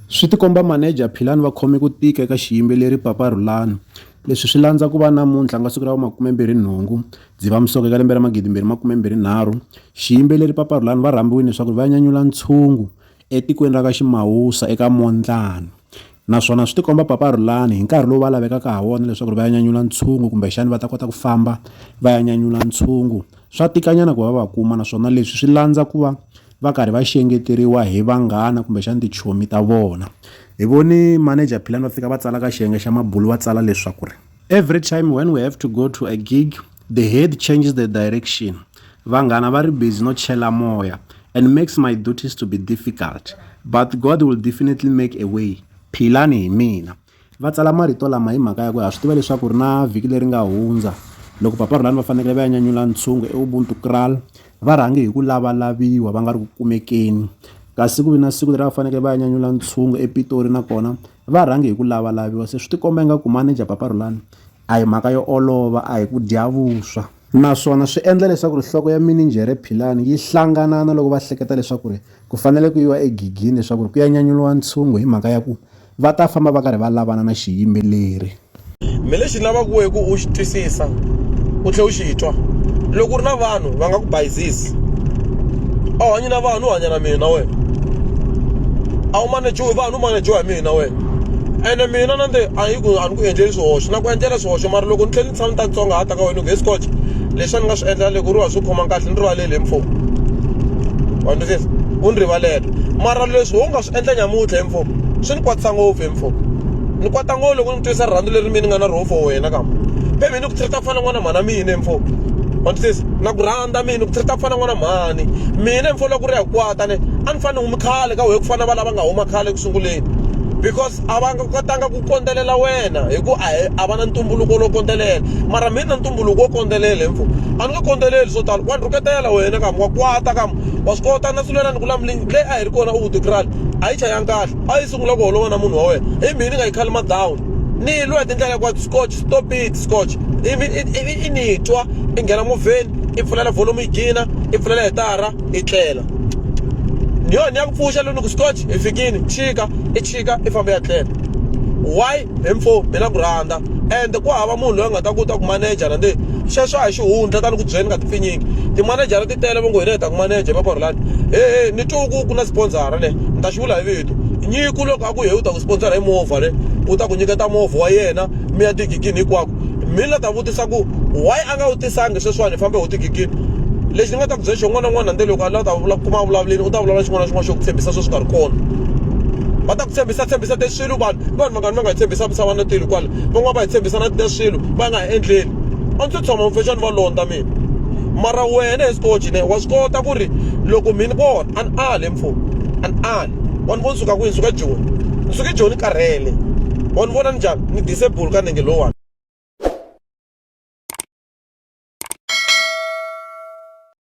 Swi tikomba manager Philani va khome ku tika eka xiyimbeleri Papa Rhulani. Leswi swi landza ku va namuntlha ku nga siku ra vu 28 Dzivamisoko eka lembe ra 2023, xiyimbeleri Papa Rhulani va rhambiwini leswaku va ya nyanyula ntshungu etikweni ra ka Ximawusa eka Mondlani naswona swi tikomba Papa Rhulani hi nkarhi lowu va lavekaka ha wona leswaku va ya nyanyula ntshungu kumbe xana va ta kota ku famba va ya nyanyula ntshungu swa tikanyana ku va va kuma naswona leswi swi landza ku va va karhi va xengeteriwa hi vanghana kumbexana tichomi ta vona hi voni manager philani va fika va tsala ka xiyenge xa mabulu va tsala leswaku ri every time when we have to go to a gig the head changes the direction vanghana va ri busy no chela moya and makes my duties to be difficult but god will definitely make a way philani hi mina Va tsala marito lama hi mhaka ya ku ha swi tiva leswaku ri na vhiki leri nga hundza loko Papa Rhulani va fanekele va ya nyanyula ntshungu eUbuntu Kraal va rhange hi ku lavalaviwa va nga ri ku kumekeni kasi ku ve na siku leri va fanekele va ya nyanyula ntshungu ePitori nakona va rhange hi ku lavalaviwa se swi tikomba ingaku manager Papa Rhulani a hi mhaka yo olova a hi ku dya vuswa naswona swi endla leswaku ri nhloko ya mininjhere Philani yi hlanganana loko va hleketa leswaku ri ku fanele ku yiwa egigini leswaku ri ku ya nyanyuriwa ntshungu hi mhaka ya ku va ta famba va karhi va lavana na xiyimbeleri. Me lexi ni lavaka wehe ku u xi twisisa u tlhe u xi twa loko u ri na vanhu va nga ku bayizisi a wu hanyi na vanhu u hanya na mina na wena a wu manejiwi vanhu u manejiwa hi mina na wena ene mina na nde a yi ku a ni ku endleli swihoxo na ku endlela swihoxo mara loko ni tlhe ni tshama ni ta ntsongahata ka wena ku he sikoce leswi a ni nga swi endla loko ri wa swi khomanga kahle ni rivaleli hi mfo wa ni twisisa u ni rivalela mara leswi wo nga swi endla nyamutlha mfo swi ni kwatisa ngopfu he mfo ni kwata ngopfu loko ni twisa rirhandzu leri mi ni nga na roho for wena kama baby ni ku treat-a ku fana n'wana mhana mina mfo wantisisa na ku rhandza mina ku treat-a ku fana n'wana mhani mina mfo loko ri ya kwata ne a ni fane humi khale ka wehe ku fana va lava nga huma khale eku sunguleni because a va nga kotanga ku kondzelela wena hi ku a va na ntumbuluko lowo kondzelela mara mina ntumbuluko wo kondzelela hi mfo a ni nga kondzeleli swo tala wa ni rhuketela wena kam wa kwata kam wa swi kota na sulela ni ku lamulini leyi a hi ri kona u tikrali a yi chayanga kahle a yi sungula ku holova na munhu wa wena i mhini ni nga yi khali madown ni yi lwa hi tindlela hinkwato scotch stop it scotch ivi i ni twa i nghena movheni i pfulela volume yi gina i pfulela hitara i tlela ni yona ni ya ku pfuxa loko ni ku scotch hi fikini chika i chika i famba ya tlela why hi mfo hi na ku rhandza and ku hava munhu loyi a nga ta ku ta ku manejara ndi sweswo a hi xihundla tani ku byela ni nga tipfinyingi timanejara ti tele va ngo hina hi ta ku maneja va korolani hehe ni twe ku ku na sponsora le ni ta xi vula hi vito nyiku loko a ku he u ta ku sponsora hi movha le u ta ku nyiketa movha wa yena mi ya tigigini hinkwako mi la ta vutisa ku why a nga wu tisangi sweswiwani hi fambe ho tigigini lexi ni nga ta ku byela xo n'wana n'wana nde loko a la ta kuma vulavuleni u ta vulavula xin'wana na xin'wana xo ku tshembisa sweswi nga ri kona va ta ku tshembisa tshembisa swilo vanhu vanhu mangani va nga hi tshembisa misava na tilo kwala van'wana va hi tshembisa na na swilo va nga ha endleli a ndzi tshama mufexani va londza mina mara wena hi sikoji ne wa swi kota ku ri loko mina vona a ni ali mfo a ni ali wa ni vona suka kwihi suka joni ni suke joni karhele wa ni vona ni njhani ni disable ka nenge lowani